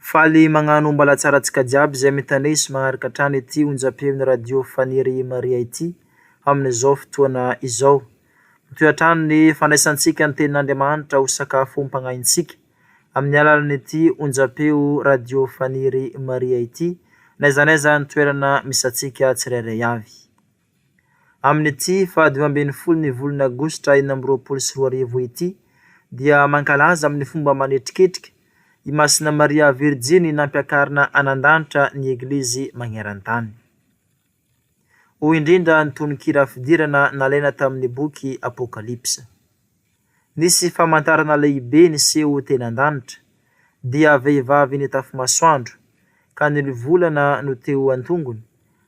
Faly magnano ombalatsara antsika jiaby zay mitaney sy magnaraka hatrany ity onjampeon'ny radio Faniry Maria ity amin'izao fotoana izao. Mitohy hatrany ny fandraisantsika ny tenin'Andriamanitra ho sakafom-pagnahintsika amin'ny alalan'ity onjampeo radio Faniry Maria ity n'aiza n'aiza ny toerana misantsika tsirairay avy. Amin'ity faha dimy ambin'ny folo ny volana aogositra enina amby roapolo sy roa arivo ity dia mankalaza amin'ny fomba manetriketrika i Masina Maria Virjiny nampiakarina anan-danitra ny Eglizy magneran-tany. Hoy indrindra ny tononkira fidirana nalaina tamin'ny boky Apokalypsa. Nisy famantarana lehibe niseho teny an-danitra, dia vehivavy nitafy masoandro, ka ny lovolana no teo an-tongony,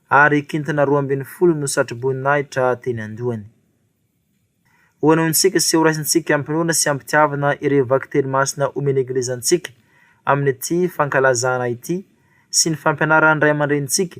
ary kintana roa ambin'ny folo no satroboninahitra teny an-dohany. Hohenointsika sy horaisintsika hampinoana sy hampitiavana ireo vakiteny masina omen'ny Eglizy antsika amin'ity fankalazana ity sy ny fampianaran'ny ray aman-drenintsika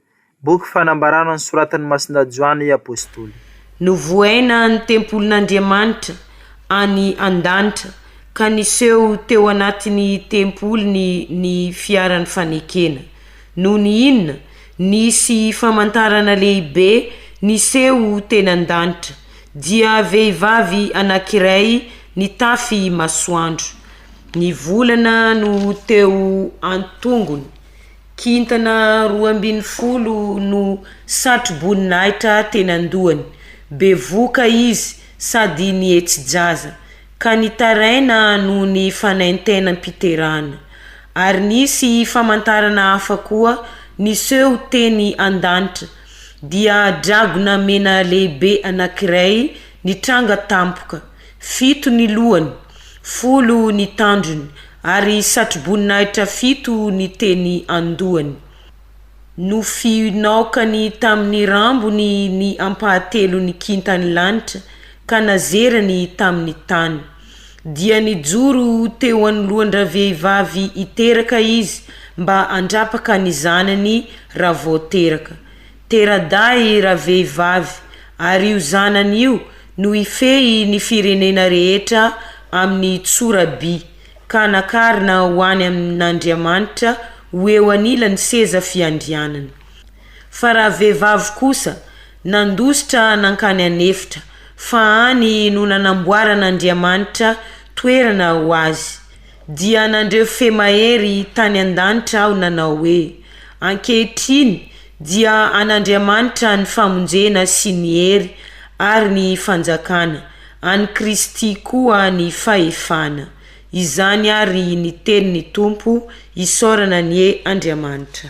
Boky fanambarana nosoratan'i Masindahy Joany Apostoly. Novohaina ny tempolin'Andriamanitra any an-danitra ka niseho teo anatin'ny tempoliny ny fiaran'ny fanekena. Nony inona? Nisy famantarana lehibe niseho teny an-danitra, dia vehivavy anankiray nitafy masoandro. Ny volana no teo an-tongony. Kintana roa ambin'ny folo no satro-boninahitra teny an-dohany. Bevohoka izy sady nihetsi-jaza, ka nitaraina noho ny fanaintainam-piterahana. Ary nisy famantarana hafa koa niseho teny an-danitra, dia dragona mena lehibe anankiray nitranga tampoka. Fito ny lohany, folo ny tandrony, ary satroboninahitra fito ny teny an-dohany. Nofinaokany tamin'ny rambony ny ampahatelon'ny kintan'ny lanitra, ka nazerany tamin'ny tany. Dia nijoro teo anoloan-dravehivavy hiteraka izy, mba handrapaka ny zanany raha vao teraka. Tera-dahy ravehivavy, ary io zanany io no hifehy ny firenena rehetra amin'ny tsoraby, ka nakarina ho any amin'Andriamanitra ho eo anilan'ny seza fiandrianany. Fa ravehivavy kosa nandositra nankany an'efitra, fa any no nanamboaran'Andriamanitra toerana ho azy. Dia nandreo fe mahery tany an-danitra aho nanao hoe, Ankehitriny dia an'Andriamanitra ny famonjena sy ny hery ary ny fanjakana, an'i Kristy koa ny fahefana. Izany ary ny tenin'ny Tompo, isaorana anie Andriamanitra.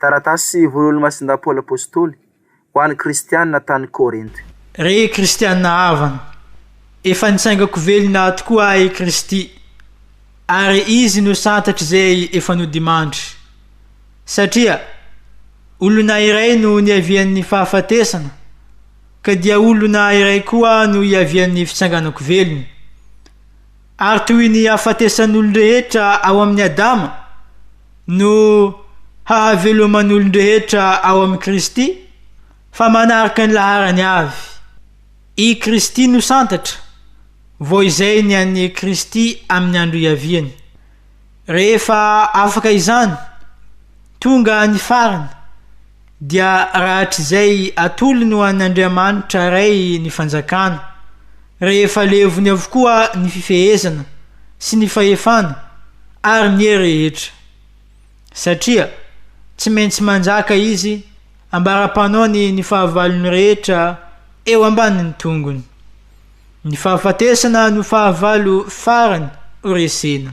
Taratasy ho an'Olomasin-dà Paoly Apostoly ho an'ny Kristianina tany Korinto. Ry Kristianina havana, efa nitsaingako velona tokoa ahy i Kristy, ary Izy no santatr'izay efa nodimandry. Satria olona iray no niavian'ny fahafatesana, ka dia olona iray koa no iavian'ny fitsanganako velona. Ary toy ny hafatesan'olon-drehetra ao amin'i Adama no hahaveloman'olon-drehetra ao amin'i Kristy, fa manaraka ny laharany avy. I Kristy no santatra, vao izay ny an'i Kristy amin'ny andro iaviany. Rehefa afaka izany, tonga ny farany. Dia rahatrizay atolony ho an' Andriamanitra Ray ny fanjakana, rehefa levony avokoa ny fifehezana sy ny fahefana ary ny hery rehetra. Satria tsy maintsy manjaka Izy ambara-panaony ny fahavalony rehetra eo ambanin'ny tongony. Ny fahafatesana no fahavalo farany ho resena.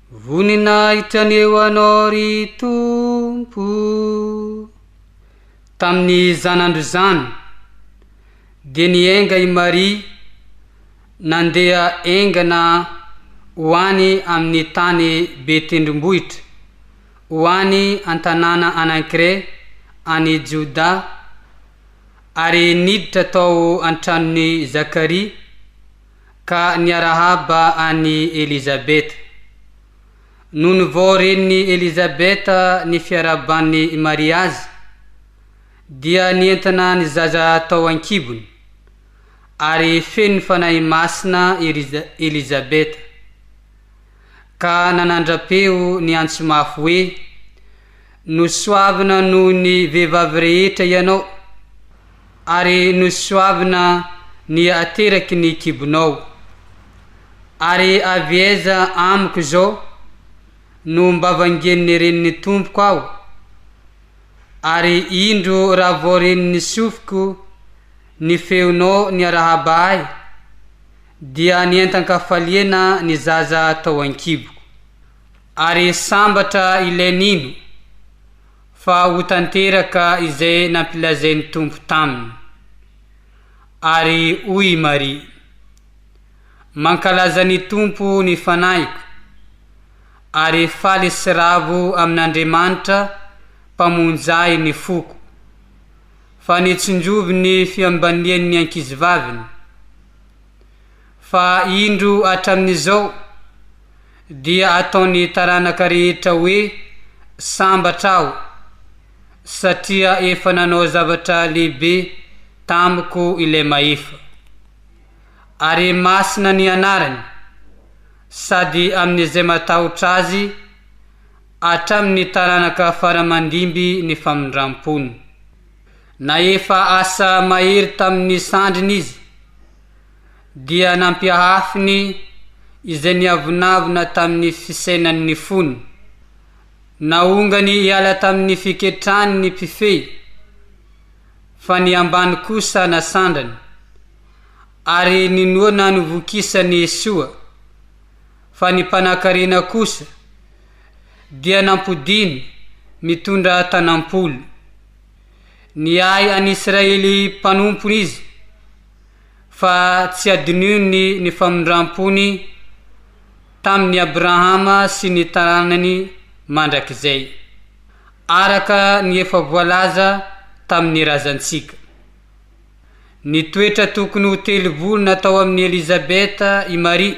Voninahitra ny eo Anao ry Tompo. Tamin'ny zanandro izany, dia nienga i Maria nandeha engana ho any amin'ny tany be tendrombohitra, ho any an-tanàna anankiray any Jodà, ary niditra tao an-tranon'i Zakaria. ka niarahaba an'i Elizabeta. Nony vao ren'i Elizabeta ny fiarahaban'i Maria azy, dia nientana ny zaza tao an-kibony, ary feno ny Fanahy Masina i Elizabeta. ka nanandra-peo niantso mafy hoe, Nosoavina noho ny vehivavy rehetra ianao, ary nosoavina ny ateraky ny kibonao. Ary avy aiza amiko izao no mba vangian'ny renin'ny tompoko aho? Ary indro raha vao renin'ny sofiko ny feonao niarahaba ahy, dia nientan-kafaliana ny zaza tao an-kiboko, ary sambatra ilay nino fa ho tanteraka izay nampilazain'ny Tompo taminy. Ary hoy i Maria, Mankalaza ny Tompo ny fanahiko, ary faly sy ravo amin'Andriamanitra Mpamonjy ahy ny foko, fa nitsinjovy ny fiambanian'ny ankizivaviny. fa indro hatramin'izao dia ataon'ny taranaka rehetra hoe sambatra aho satria efa nanao zavatra lehibe tamiko ilay Mahefa. Ary masina ny anarany sady amin'izay matahotra azy hatramin'ny taranaka fara-mandimby ny famindram-pony. Nahefa asa mahery tamin'ny sandriny izy, dia nampiahafiny izay niavonavona tamin'ny fisainan'ny fony. Naongany hiala tamin'ny fiketrany ny mpifehy, fa ny ambany kosa nasandrany, ary ninoana novokisany soa, fa ny mpanankarena kosa dia nampodiany mitondra tanam-polo. Niahy an'i Israely mpanompony izy, fa tsy hadinony ny famindram-pony tamin'i Abrahama sy ny taranany mandrakizay, araka ny efa voalaza tamin'ny razantsika. Nitoetra tokony ho telo volana tao amin'i Elizabeta i Maria.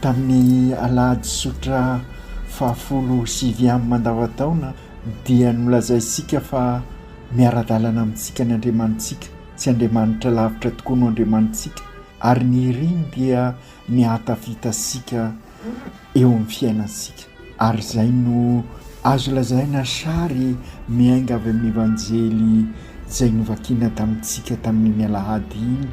Tamin'ny alahady tsotra fahafolo sy viam mandavantaona dia nolazaintsika fa miara-dalana amintsika ny Andriamanitsika, tsy Andriamanitra lavitra tokoa no Andriamanitsika ary ny iriny dia ny ahatafita antsika eo amin'ny fiainantsika ary izay no azo lazaina sary miainga avy amin'ny Evanjely izay novakiana tamintsika tamin'iny alahady iny,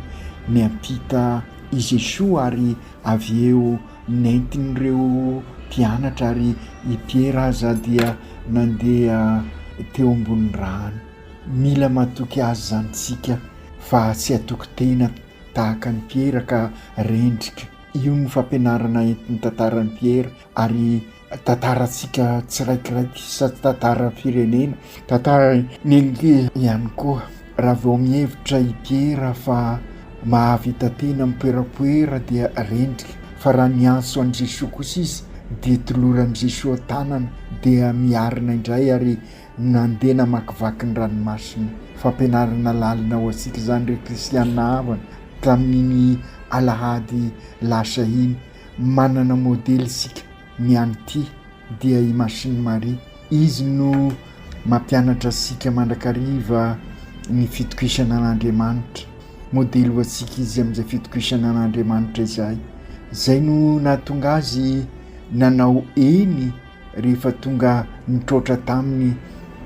miampita i Jesoa ary Avy eo nentin'ireo mpianatra ary i Piera aza dia nandeha teo ambonin'ny rano. Mila matoky azy izany isika fa tsy hatoky tena tahaka an'i Piera ka rendrika. Io no fampianarana entin'ny tantaran'i Piera ary. tantarantsika tsiraikiraiky sady tantaran'ny firenena, tantaran'ny nenike ihany koa. Raha vao mihevitra i Piera fa mahavita tena mipoerapoera dia rendrika, fa raha miantso an'i Jesoa kosa izy dia toloran'i Jesoa tanana dia miarina indray ary nandeha namakivaky ny ranomasina. Fampianarana lalina ho antsika izany ry kristiana havana tamin'iny alahady lasa iny. Manana modely isika mianty dia i Machine Marie. Izy no mampianatra antsika mandrakariva ny fitokisana an'Andriamanitra. Modely ho antsika izy amin'izay fitokisana an'Andriamanitra izay. Izay no nahatonga azy nanao eny rehefa tonga nitroatra taminy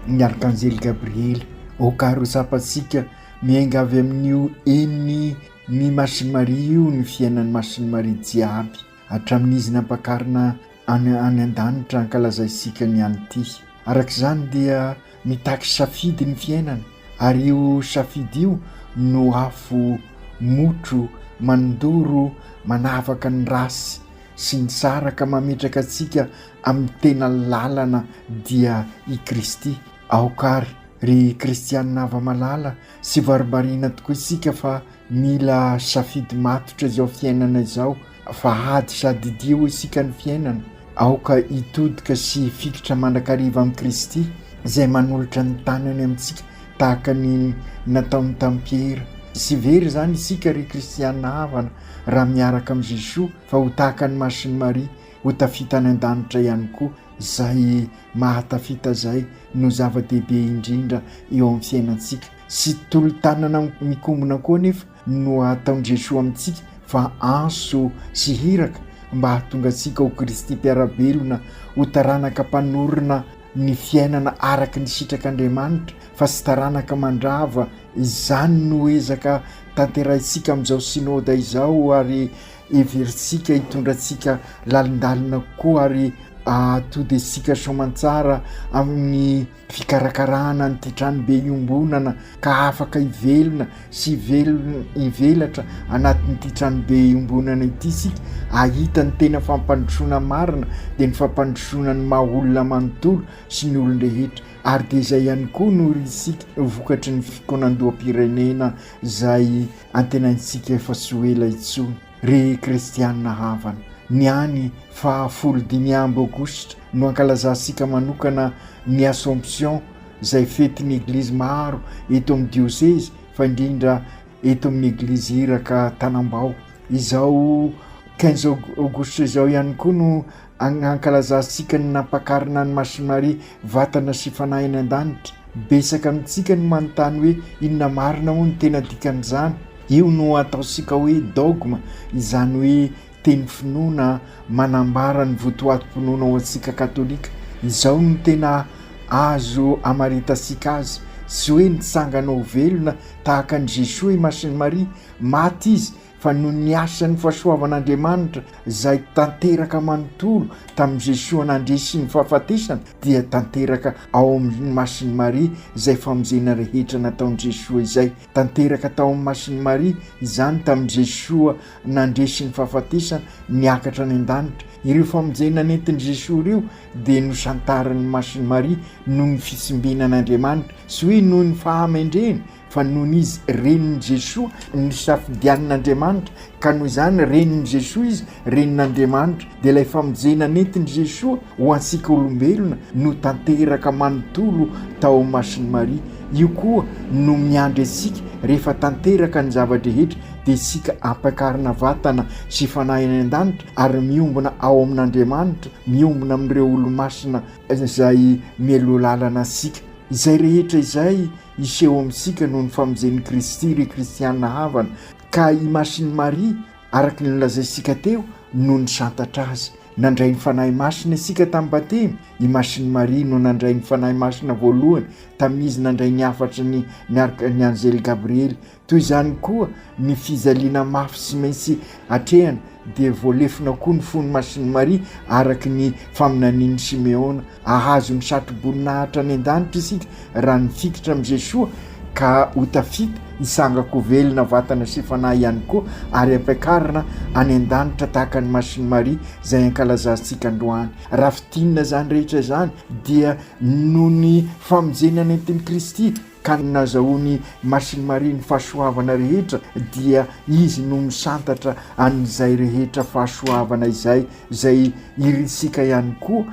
ny Arkanjely Gabriely. Aoka ary ho tsapantsika miainga avy amin'io eny. Ny Masin'i Maria io no fiainan'ny Masin'i Maria jiaby hatramin'izy nampakarina any any an-danitra hankalazay isika ny an'ity. Araka izany dia mitaky safidy ny fiainana ary io safidy io no afo motro mandoro manavaka ny ratsy sy ny tsara ka mametraka antsika amin'ny tena lalana dia i Kristy. Aoka ary ry kristianina hava-malala Tsy varimbariana tokoa isika fa mila safidy matotra izao fiainana izao fa ady sady idia hoy isika ny fiainana. Aoka hitodika sy hifikitra mandrakariva amin'i Kristy izay manolotra ny tanany amintsika tahaka ny nataony tamin'i Piera. Tsy very izany isika ry kristiana havana raha miaraka amin'i Jesoa fa ho tahaka ny Masin'i Maria ho tafita any an-danitra ihany koa, izay mahatafita izay no zava-dehibe indrindra eo amin'ny fiainantsika sy tolo-tanana mikombona koa anefa no ataon'i Jesoa amintsika fa anso sy hiraka mba hahatonga antsika ho Kristy mpiara-belona, ho taranaka mpanorina ny fiainana araka ny sitrak'Andriamanitra fa tsy taranaka mandrava, izany no ezaka tanterahintsika amin'izao Synoda izao ary Heverintsika hitondra antsika lalindalina koa ary hahatody antsika soamantsara amin'ny fikarakarana an'ity tranobe iombonana ka afaka hivelona sy velona hivelatra anatin'ity tranobe iombonana ity isika hahita ny tena fampandrosoana marina dia ny fampandrosoana ny maha olona manontolo sy ny olon-drehetra ary dia izay ihany koa no isika vokatry ny fikaonandoham-pirenena izay Antenaintsika fa tsy ho ela intsony, ry kristiana havana, ny any faha folo dimy amby aogositra no ankalazantsika manokana ny Assomption, izay fetin'ny Eglizy maro eto amin'ny diosezy fa indrindra eto amin'ny Eglizy Iraka Tanambao. Izao quinze aogositra izao ihany koa no Agny hankalazantsika ny nampakarina an'i Masie Maria vatana sy fanahy any an-danitra. Betsaka amintsika no manontany hoe inona marina moa no tena dikan'izany. Io no ataontsika hoe dogma, izany hoe teny finoana manambara ny votoatim-pinoana ho antsika katolika. Izao no tena azo amaritantsika azy, tsy hoe nitsangana ho velona tahaka an'i Jesoa i Masin'i Maria, maty izy fa noho ny asan'ny fahasoavan'Andriamanitra izay tanteraka manontolo tamin'i Jesoa nandre sy ny fahafatesana dia tanteraka ao amin'ny Masin'i Maria izay famonjena rehetra nataon'i Jesoa izay. Tanteraka tao amin'ny Masin'i Maria izany tamin'i Jesoa nandre sy ny fahafatesana niakatra any an-danitra. Ireo famonjena nentin'i Jesoa ireo dia nosantarin'ny Masin'i Maria noho ny fitsimbinan'Andriamanitra sy hoe noho ny fahamendreny Fa nony izy renin'i Jesoa, nosafidianin'Andriamanitra, ka noho izany renin'i Jesoa izy, renin'Andriamanitra, dia ilay famonjena nentin'i Jesoa ho antsika olombelona no tanteraka manontolo tao amin'ny mason'i Maria. Io koa no miandry antsika rehefa tanteraka ny zava-drehetra dia isika ampiakarina vatana sy fanahy any an-danitra ary miombona ao amin'Andriamanitra, miombona amin'ireo olomasina izay mialoha lalana antsika. Izay rehetra izay Hiseho amintsika noho ny famonjen'i Kristy ry kristiana havana, ka i Masin'i Maria, araka ny nolazaintsika teo, no nisantatra azy. Nandray ny Fanahy Masina isika tamin'ny Batemy, i Masin'i Maria no nandray ny Fanahy Masina voalohany tamin'izy nandray ny hafatry ny ny anjely Gabriely, Toy izany koa ny fijaliana mafy tsy maintsy atrehina, dia voalefona koa ny fon'i Masin'i Maria araka ny faminanian'i Simeona. Hahazo ny satroboninahitra any an-danitra isika raha nifikitra amin'i Jesoa ka ho tafita, hitsangako ho velona vatana sy fanahy ihany koa ary hampiakarina any an-danitra tahaka an'i Masin'i Maria izay ankalazantsika androany. Raha fintinina izany rehetra izany dia noho ny famonjena nentin'i Kristy. Ka ny nazahoan'i Masin'i Maria ny fahasoavana rehetra dia Izy no misantatra an'izay rehetra fahasoavana izay, izay irintsika ihany koa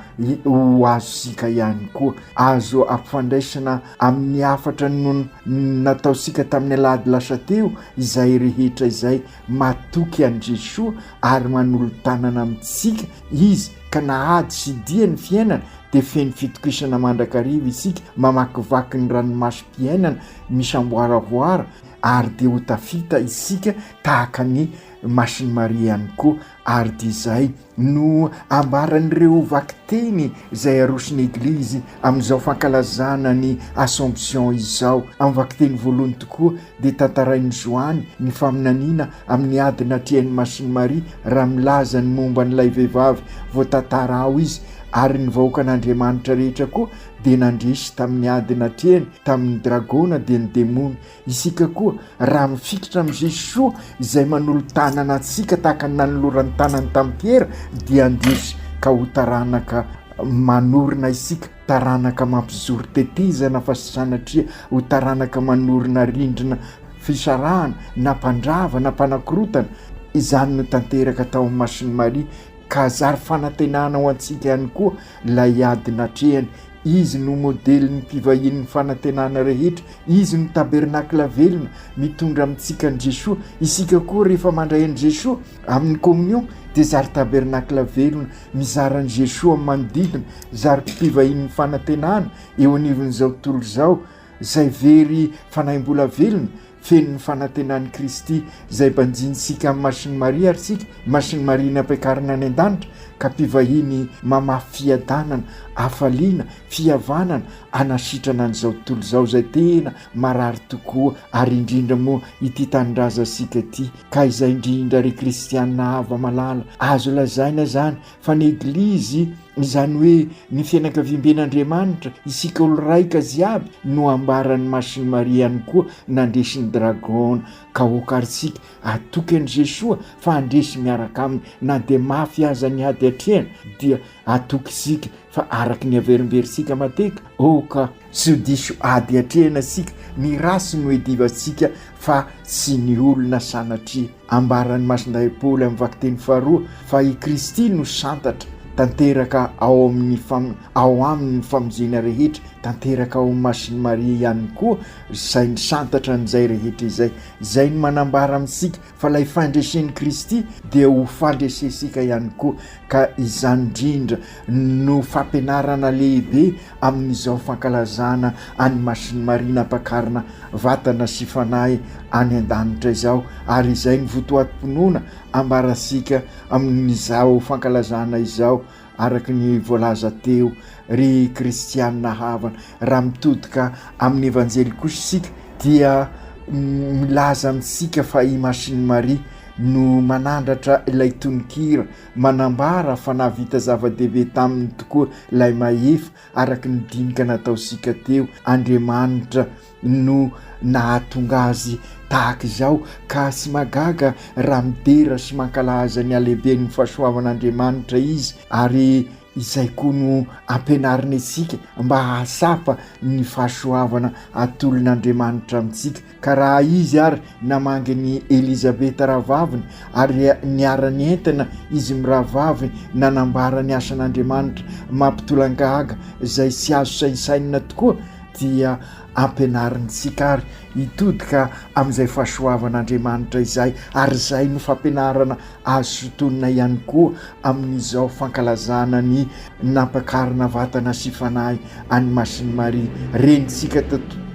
ho azontsika ihany koa. Azo ampifandraisina amin'ny hafatra nataontsika tamin'ny alahady lasa teo izay rehetra izay. Matoky an'i Jesoa ary manolo-tanana amintsika Izy ka na ady sy dia ny fiainana dia feno fitokisana mandrakariva isika mamakivaky ny ranomasom-piainana misamboaravoara ary dia ho tafita isika tahaka an'i Masin'i Maria ihany koa ary dia izay no ambaran'ireo vakiteny izay aroson'ny Eglizy amin'izao fankalazana ny Assomption izao. Amin'ny vakiteny voalohany tokoa dia tantarain'i Joany ny faminaniana amin'ny ady natrehan'i Masin'i Maria raha milaza ny momba an'ilay vehivavy voatantara ao izy, ary ny vahoakan'Andriamanitra rehetra koa dia nandresy tamin'ny ady natrehany tamin'ny dragona dia ny demony. Isika koa, raha mifikitra amin'i Jesoa izay manolo-tanana antsika tahaka ny nanolorany tanany tamin'i Piera, dia handresy ka ho taranaka manorina isika, taranaka mampijoro tetezana fa tsy sanatria ho taranaka manorina rindrina fisarahana na mpandrava na mpanakorotana. Izany no tanteraka tao amin'ny Masin'i Maria ka zary fanantenana ho antsika ihany koa Ilay ady natrehany. Izy no modelin'ny mpivahian'ny fanantenana rehetra. Izy no tabernakla velona, mitondra amintsika an'i Jesoa. Isika koa, rehefa mandray an'i Jesoa amin'ny Komonio, dia zary tabernakla velona, mizara an'i Jesoa amin'ny manodidina, zary mpivahian'ny fanantenana eo anivon'izao tontolo izao, izay very fanahy mbola velona, feno ny fanantenan'i Kristy izay banjinintsika amin'ny Masin'i Maria ary isika Masin'i Maria nampiakarina any an-danitra ka mpivahiny mamafy fiadanana, hafaliana, fihavanana hanasitrana an'izao tontolo izao izay tena marary tokoa ary indrindra moa ity tanindrazantsika ity ka izay indrindra ry kristiana hava-malala azo lazaina izany fa ny eglizy izany hoe ny fianakaviamben'Andriamanitra isika olo raika ziaby no ambaran'ny masiny maria ihany koa nandresy ny dragon ka hokaritsika atoky an'i jesoa fa handresy miaraka aminy na dia mafy aza ny hady atrehana dia atoky isika fa araky ny averimberitsika mateka ok Tsy ho diso ady atrehina isika, ny ratsy no iadivantsika fa tsy ny olona sanatria. Ambaran'i Masindahy Paoly amin'ny vakiteny faharoa fa i Kristy no santatra tanteraka ao amin'ny fam-, ao aminy ny famonjena rehetra, tanteraka ao amin'ny Masin'i Maria ihany koa izay misantatra an'izay rehetra izay. Izay no manambara amintsika fa ilay fandresen'i Kristy dia ho fandresentsika ihany koa ka izany indrindra no fampianarana lehibe amin'izao fankalazana an'i Masin'i Maria nampakarina vatana sy fanahy any an-danitra izao ary izay ny votoatim-pinoana ambarantsika amin'izao fankalazana izao Araka ny voalaza teo, ry kristiana havana, raha mitodika amin'ny Evanjely kosa isika dia milaza amintsika fa i Masin'i Maria no manandratra ilay tononkira, manambara fa nahavita zava-dehibe taminy tokoa ilay Mahefa, araka ny dinika nataontsika teo, Andriamanitra. no nahatonga azy tahaka izao ka tsy mahagaga raha midera sy mankalaza ny halehiben'ny fahasoavan'Andriamanitra izy ary izay koa no ampianariny antsika mba hahatsapa ny fahasoavana atolon'Andriamanitra amintsika ka raha izy ary namangy an'i Elizabeta rahavaviny ary niara-nientana izy mirahavavy nanambara ny asan'Andriamanitra mampitolagaga izay tsy azo sainsainina tokoa dia ampianarintsika àry hitodika amin'izay fahasoavan'Andriamanitra izay, ary izay no fampianarana azo sintonina ihany koa amin'izao fankalazana ny nampakarina vatana sy fanahy an'i Masin'i Maria. Renintsika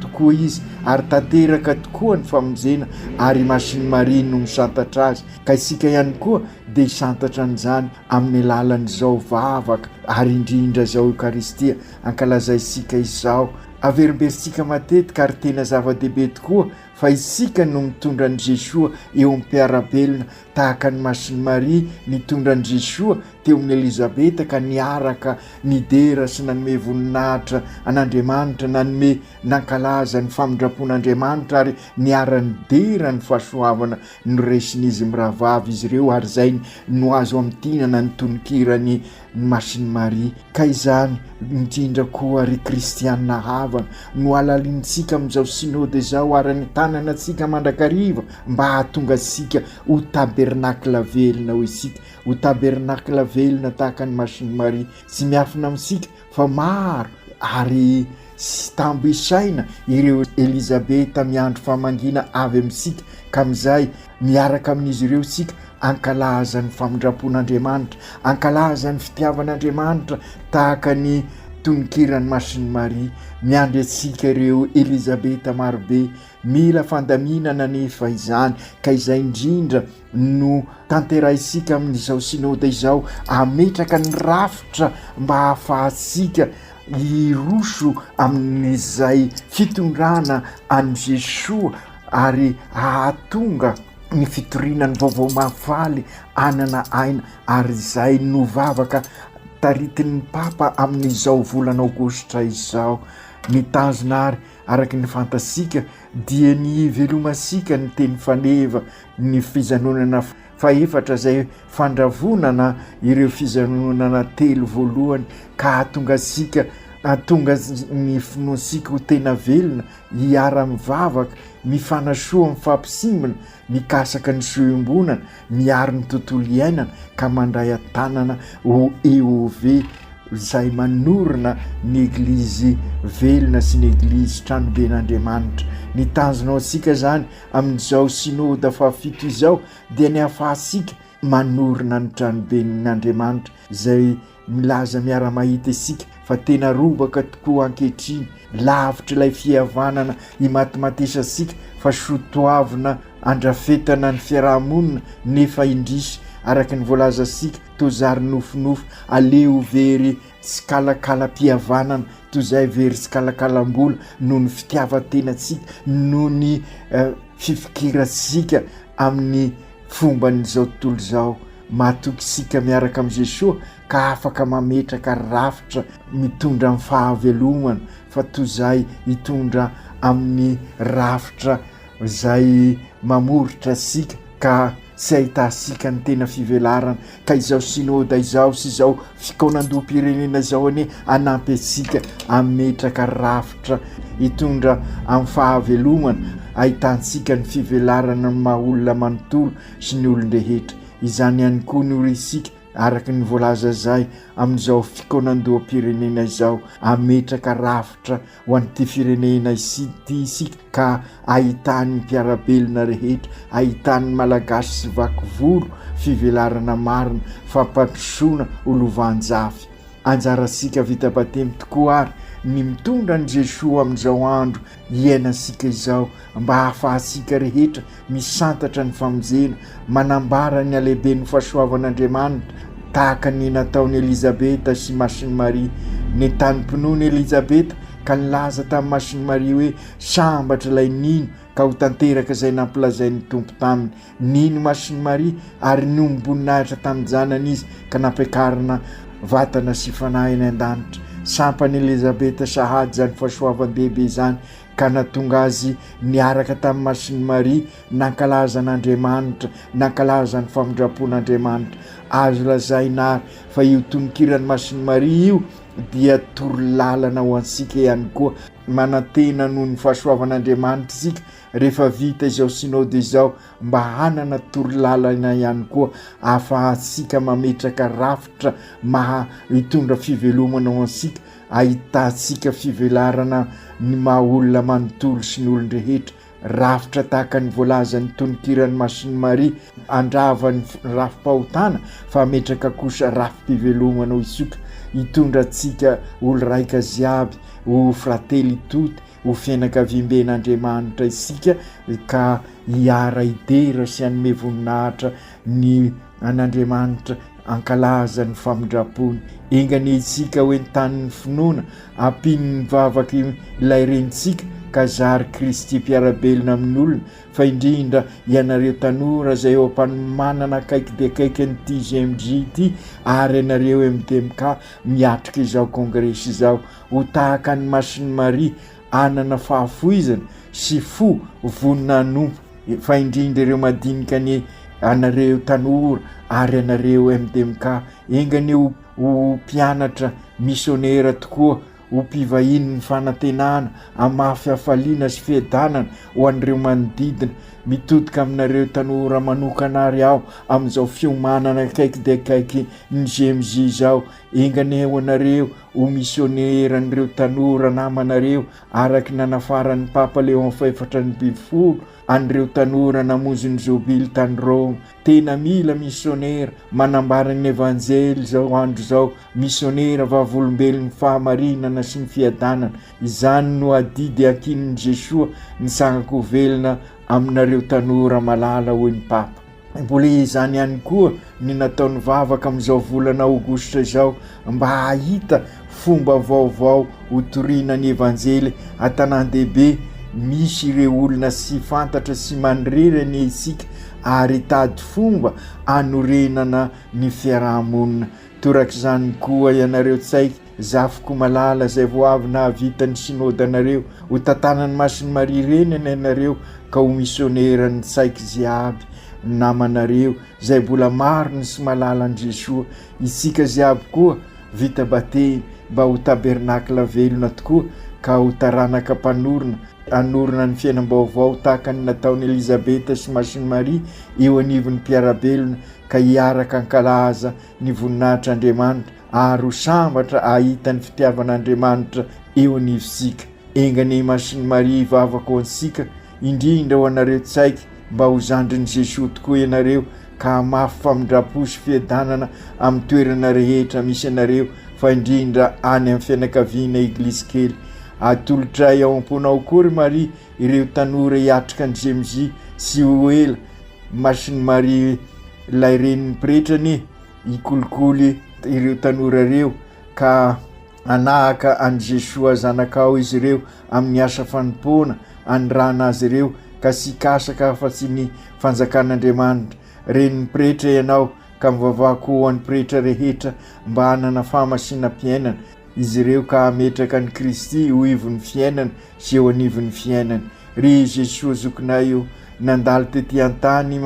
tokoa izy, ary tanteraka tokoa ny famonjena, ary i Masin'i Maria no misantatra azy, ka isika ihany koa dia hisantatra an'izany amin'ny alalan'izao vavaka, ary indrindra izao Eokaristia. ankalazaintsika izao. Averimberintsika matetika ary tena zava-dehibe tokoa fa isika no mitondra an'i Jesoa eo amin'ny mpiara-belona, tahaka an'i Masin'i Maria nitondra an'i Jesoa teo amin'i Elizabeta ka niaraka nidera sy nanome voninahitra an'Andriamanitra, nanome nankalaza ny famindram-pon'Andriamanitra ary niara-nidera ny fahasoavana noresin'izy mirahavavy izy ireo ary izay no azo amintinana ny tononkira ny ny Masin'i Maria, ka izany indrindra koa, ry kristiana havana, no halalinintsika amin'izao Synode izao ary anentanana antsika mandrakariva mba hahatonga antsika ho tabernakla velona, hoy isika, ho tabernakla velona tahaka ny Masin'i Maria, tsy miafina amintsika fa maro ary. Tsy tambo isaina ireo Elizabeta miandry famangiana avy amintsika ka amin'izay miaraka amin'izy ireo isika hankalaza ny famindram-pon'Andriamanitra, hankalaza ny fitiavan'Andriamanitra tahaka ny tononkiran'i Masin'i Maria. Miandry antsika ireo Elizabeta marobe. Mila fandaminana anefa izany ka izay indrindra no tanterahintsika amin'izao Synode izao, hametraka ny rafitra mba hahafahantsika hiroso amin'izay fitondrana an'i Jesoa ary hahatonga ny fitoriana ny vaovao mahafaly hanana aina ary izay novavaka taritin'ny Papa amin'izao volana Aogositra izao. Ny tanjona ary, araka ny fantatsika, dia ny hivelomantsika ny teny faneva, ny fijanonana fahefatra izay fandravonana ireo fijanonana telo voalohany ka hahatonga antsika hahatonga ny finoantsika ho tena velona hiara-mivavaka mifanasoa amin'ny fampisimbina mikasaka ny soa iombonana miaro ny tontolo iainana ka mandray an-tanana ho EOV izay manorina ny eglizy velona sy ny eglizy tranoben'Andriamanitra ny tanjona ao antsika izany Amin'izao Synoda fahafito izao dia ny hahafahantsika manorina ny tranoben' Andriamanitra izay milaza miara-mahita isika fa tena robaka tokoa ankehitriny, lavitr' ilay fihavanana imatimatesantsika fa soa toavina andrafetana ny fiaraha-monina nefa indrisy araka ny voalazantsika toa zary nofinofy, aleo very Tsikalakalam-pihavanana toy izay ve ry tsikalakalam-bola noho ny fitiavan-tenantsika, noho ny fifikirantsika amin'ny fomban'izao tontolo izao? Matoky isika miaraka amin'i Jesoa ka afaka mametraka rafitra mitondra amin'ny fahavelomana fa toy izay hitondra amin'ny rafitra izay mamoritra antsika ka tsy ahitantsika ny tena fivelarana ka izao synoda izao sy izao fikaonandoham-pirenena izao anie hanampy antsika hametraka rafitra hitondra amin'ny fahavelomana ahitantsika ny fivelarana ny maha olona manontolo sy ny olon-drehetra, izany ihany koa no risika araka ny voalaza izay amin'izao fikaonandoham-pirenena izao hametraka rafitra. ho an'ity firenena ity isika ka ahitan'ny mpiara-belona rehetra, ahitan'ny Malagasy sy vaky volo fivelarana marina, fampandrosoana ho lovanjafy. Anjarantsika vita batemy tokoa àry ny mitondra an'i Jesoa amin'izao andro iainantsika izao, mba hahafahantsika rehetra Misantatra ny famonjena, manambara ny halehiben'ny fahasoavan'Andriamanitra, tahaka ny nataon'i Elizabeta sy Masin'i Maria. Nentanim-pinoana i Elizabeta ka nilaza tamin'i Masin'i Maria hoe, Sambatra ilay nino, ka ho tanteraka izay nampilazain'ny Tompo taminy. Nino Masin'i Maria ary niombom-boninahitra tamin'ny Janany izy, ka nampiakarina vatana sy fanahy any an-danitra. Sampan'i Elizabeta sahady izany fahasoavan-dehibe izany, ka natonga azy niaraka tamin'ny Masin'i Maria nankalaza an'Andriamanitra, nankalaza ny famindram-pon'Andriamanitra. Azo lazaina ary fa io tononkiran'ny Masin'i Maria io dia toro lalana ho antsika ihany koa, manantena noho ny fahasoavan'Andriamanitra isika rehefa vita izao Synode izao mba hanana toro lalana ihany koa ahafahantsika mametraka rafitra maha hitondra fivelomana ho antsika Ahitantsika fivelarana ny maha olona manontolo sy ny olon-drehetra, rafitra tahaka ny voalazan'ny tononkiran'i Masin'i Maria, handrava ny rafi-pahotana fa hametraka kosa rafi-pivelomana ho hisotra, hitondra antsika olo-raika ziaby ho fratelli tutti, ho fianakaviamben'Andriamanitra isika ka hiara-hidera sy hanome voninahitra ny an'Andriamanitra ankalaza ny famindrampony enga anie isika ho entanin'ny finoana ampian'ny vavaka ilay renintsika ka zary Kristy mpiara-belona amin'olona fa indrindra ianareo tanora izay eo am-panomanana akaiky dia akaiky ny TGMJ ity ary ianareo MDMK miatrika izao kongresy izao ho tahaka ny masin'i Maria hanana fahafoizana sy fo vonona hanompo fa indrindra ireo madinika anie anareo tanora ary anareo MDMK enga anie ho ho mpianatra misionera tokoa ho mpivahiny ny fanantenana amafy hafaliana sy fiadanana ho an'ireo manodidina mitodika aminareo tanora manokana ary aho amin'izao fiomanana akaiky dia akaiky ny GMJ izao Enga anie hoanareo ho misionera an'ireo tanora namanareo araka ny nanafaran'ny Papa Léon fahefatra amby folo an'ireo tanora namonjy ny Jobily tany Roma. Tena mila misionera manambara ny Evanjely izao andro izao, misionera vavolombelon'ny fahamarinana sy ny fiadanana. Izany no adidy ankinin'i Jesoa, ny sankako velona aminareo tanora malala, hoy ny Papa. Mbola izany ihany koa ny nataon'ny vavaka amin'izao volana aogositra izao mba hahita fomba vaovao hotoriana ny evanjely an-tanàn-dehibe misy ireo olona sy fantatra sy manirery anie isika ary hitady fomba hanorenana ny fiaraha-monina. Torak'izany koa ianareo tsaiky Zafiko malala izay vao avy nahavita ny synodanareo, ho tantanan'ny Masin'i Maria Reniny ianareo ka ho misioneran'ny tsaiky jiaby namanareo izay mbola marina sy malala an'i Jesoa, itsika jiaby koa vita batemy mba ho tabernakla velona tokoa ka ho taranaka mpanorina hanorina ny fiainam-baovao tahaka ny nataon'i Elizabeta sy Masin'i Maria eo anivon'ny mpiara-belona ka hiaraka hankalaza ny voninahitr'Andriamanitra ary ho sambatra ahita ny fitiavan'Andriamanitra eo anivontsika. Enga anie Masin'i Maria hivavaka ho antsika, indrindra ho anareo tsaiky mba ho zandrin'i Jesoa tokoa ianareo ka hamafy famindram-po sy fiadanana amin'ny toerana rehetra misy anareo fa indrindra any amin'ny fianakaviana Eglizy kely. Atolotray ao am-ponao koa ry Maria ireo tanora hiatrika ny GMJ tsy ho ela. Masin'i Maria ilay Renin'ny Pretra anie. Hikolikoly ireo tanora ireo ka hanahaka an'i Jesoa Zanakao izy ireo amin'ny asa fanompoana anirahana azy ireo ka tsy hikasaka afa-tsy ny fanjakan'Andriamanitra. Renin'ny Pretra ianao ka mivavaha koa ho an'ny Pretra rehetra mba hanana fahamasinam-piainana izy ireo ka hametraka an'i Kristy ho ivon'ny fiainana sy eo anivon'ny fiainany. Ry Jesoa Zokinay o, nandalo tety an-tany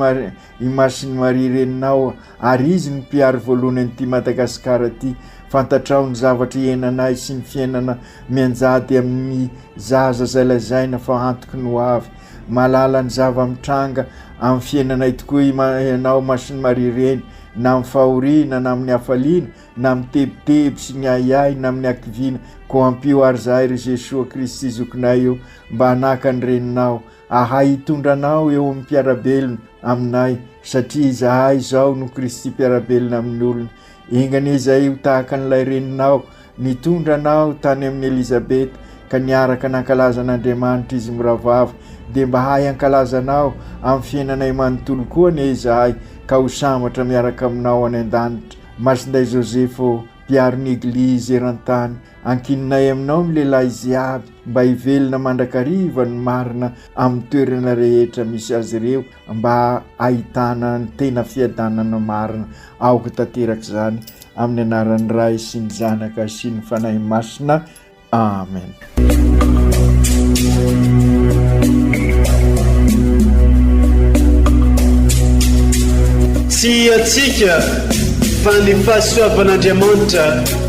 I Masin'i Maria reninao ary izy no mpiaro voalohany an'ity Madagasikara ity. Fantatrao ny zavatra ihenanay sy ny fiainana mianjady amin'ny zaza izay lazaina fa antoky ny ho avy. Mahalala ny zava-mitranga amin'ny fiainanay tokoa ianao Masin'i Maria reny na amin'ny fahoriana na amin'ny hafaliana na amin'ny tebiteby sy ny ahiahy na amin'ny hakiviana koa ampio ary zahay ry Jesoa Kristy Zokinay o mba hanaka ny reninao ahay hitondra anao eo amin'ny mpiarabelona aminay satria izahay izao no Kristy mpiarabelona amin'ny olona. Enganie izay ho tahaka an'ilay reninao nitondra anao tany amin'i Elizabeta ka niaraka nankalaza an'Andriamanitra izy mirahavavy dia mba hahay hankalaza anao amin'ny fiainanay manontolo koa anie izahay ka ho sambatra miaraka aminao any an-danitra. Masinday Joseph ô, mpiaro ny Eglizy eran-tany, ankininay aminao ny lehilahy ziaby. mba hivelona mandrakariva ny marina amin'ny toerana rehetra misy azy ireo mba ahitana ny tena fiadanana marina aoka tanteraka izany amin'ny anaran'ny Ray sy ny Zanaka sy ny Fanahy Masina Amen tsy atsika fa ny fahasoavan'Andriamanitra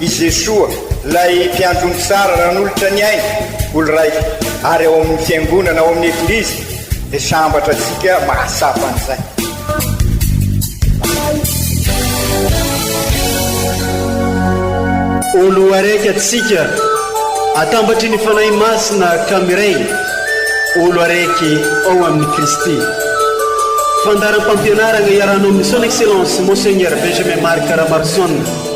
I Jesoa, ilay Mpiandry omby tsara nanolotra ny ainy ho lray, ary ao amin'ny Fiangonana, ao amin'ny Eglizy, dia sambatra antsika mahatsapa an'izay. Olo araiky antsika, atambatry ny Fanahy Masina ka miray, olo araiky ao amin'i Kristy. Fandaharam-pampianarana iarahanao amin'ny Son Excellence Monseigneur Benjamin Marc Ramarison.